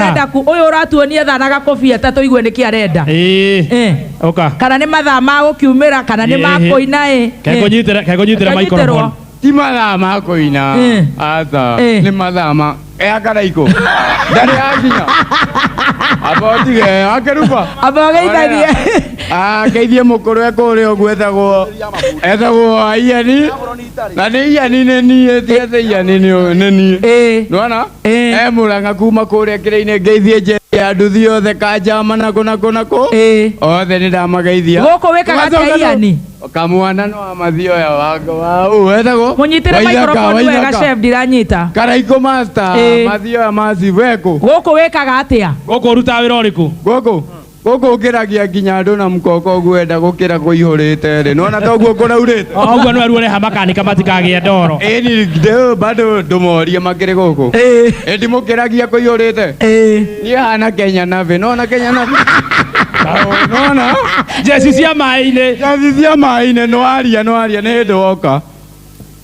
arenda ku ũyũ ũratuonia thaa na gakobia ta tũigue nĩkĩ arenda ĩĩ Eh. ũka kana nĩ mathaa ma gũkiumĩra kana nĩ ma Ĩhĩ. kũina ĩ Eh. kekũnyitĩra kekũnyitĩra Kekũnyitĩrwo. microphone ti mathaa ma kũina Eh. aca Eh. nĩ mathaa ma eakaraikũ ndarĩ yakinya abotige akeruba amba wageithagie akeithie mũkũrũ ekũrĩ ũguo etagwo etagwo aiani na nĩ iani nĩ niĩ ti atĩ iani nĩ nĩ niĩ ĩĩ nona Eh. e muranga kuma kuria kiraine ngeithie njeri ya nduthi yothe kanjama na kuna kuna ku Eh. othe ni ndamageithia Gũkũ wĩkaga atĩa Tũgacoka na- Ian? kamwana no amathioya wanga wa u wethago Mũnyitĩre microphone wega chef ndiranyita. karaiko master Eh. mathioya macibu eku Gũkũ wĩkaga atĩa? Gũkũ ũrutaga wĩra ũrĩkũ? guku Gũkũ ũkĩragia nginya andũ na mũkoko ũguenda gũkĩra kũihũrĩte rĩ. Nĩwona ta ũguo kũraurĩte? O ũguo nĩwe ruore hamakanika matikagĩe ndoro. Ĩni ndĩũ bado ndũmorie makĩrĩ gũkũ. Ĩndi mũkĩragia kũihũrĩte? Niĩ hana Kenya Navy. Nĩwona Kenya Navy? Nĩwona? Njeci cia maĩ-inĩ. Njeci cia maĩ-inĩ. Nĩwaria nĩwaria nĩ hĩndĩ woka.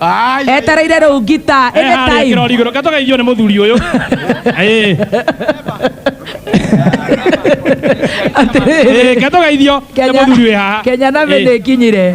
Ai, ai, etereire rä u ngita Eh, harĩa anytime kĩrori igũrũ katũ gaithio nĩ mũthuri ũyũ Eh, eh, katũ gaithio nĩ mũthuri wĩ haha kenya name Eh. nä kinyire